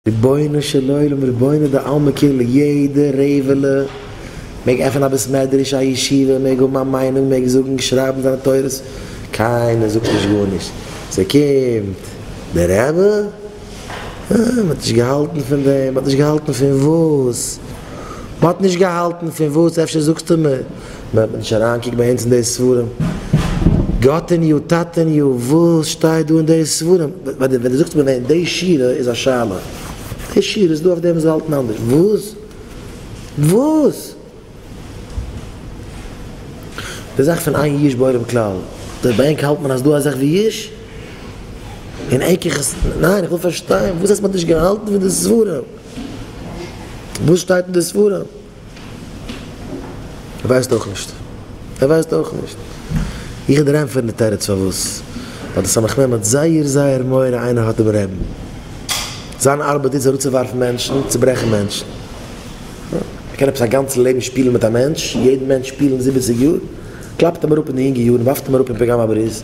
רבונו של עולם רבונו דעלמא כאילו יעדע רעבעלע מעג עפענען א בית מדרש א ישיבה מעג האבן א מיינונג מעג זאגן שרייבן זיינע תורות קיינער זאגט נישט גארנישט סא קומט די רעבע אה מען האט נישט געהאלטן פון דעם מען האט נישט געהאלטן פון וואס מען האט נישט געהאלטן פון וואס אפשר זאגסטו מען ווען מען נישט אריין קוקט ביי אונז אין די ספרים גאטעניו טאטעניו וואס שטייט דא אין די ספרים ווען דו ווען דו זאגסט מיר ווען די שירה איז א שאלה די שירה איז דא אויף דעם מ'זאל האלטן אנדערש וואס וואס די זאך פון איין יש בעולם כלל דער ביי ענק האלט מען אז דא א זאך ווי יש און ענק איך עס ניין איך וויל פארשטיין וואס הייסט מ'האט נישט געהאלטן פון די ספרים וואס שטייט אין די ספרים. ער ווייסט אויך נישט. ער ווייסט אויך נישט. איך וועל דיר ענטפערן די תירוץ פארוואס. ווייל די סמך מם האט זייער זייער מורא איינער האט דעם רעבן. זיין ארבעט איז אראפצואווארפן מענטשן, צוברעכן מענטשן. ער קען עפעס א גאנץ לעבן שפילן מיט א מענטש, יעדן מענטש שפילן זיבעציג יאר. קלאפט אים אראפ אין די יונגע יארן, ווארפט אים אראפ אין פיגאמא בריז,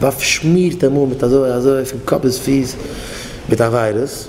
ווארפט, שמירט אים אן מיט אזוי אזוי פון קאפ ביז פיס מיט א וויירוס.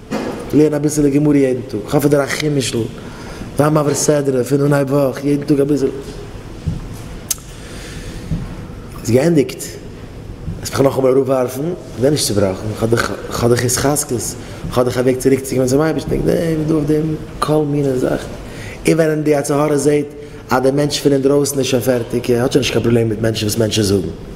לערן אביסעלע גמרא יעדן טאג, כאפ פון דיר א חומש'ל, זיי מעביר סדרה פון אנהייב וואך, יעדן טאג אביסעלע. איז געענדיגט, וועסט מיך נאכאמאל אראפווארפן, זיי נישט צובראכן, כ'האב דאך התחזקות, כ'האב דאך א וועג צוריקצוקומען צום אייבערשטן, איך דענק דא אויף דעם כל מיני זאכן. און ווען די יצר הרע זעט אז דער מענטש פון אינדרויסן איז שוין פערטיג, ער האט שוין נישט קיין פראבלעם מיט מענטשן וואס מענטשן זאגן,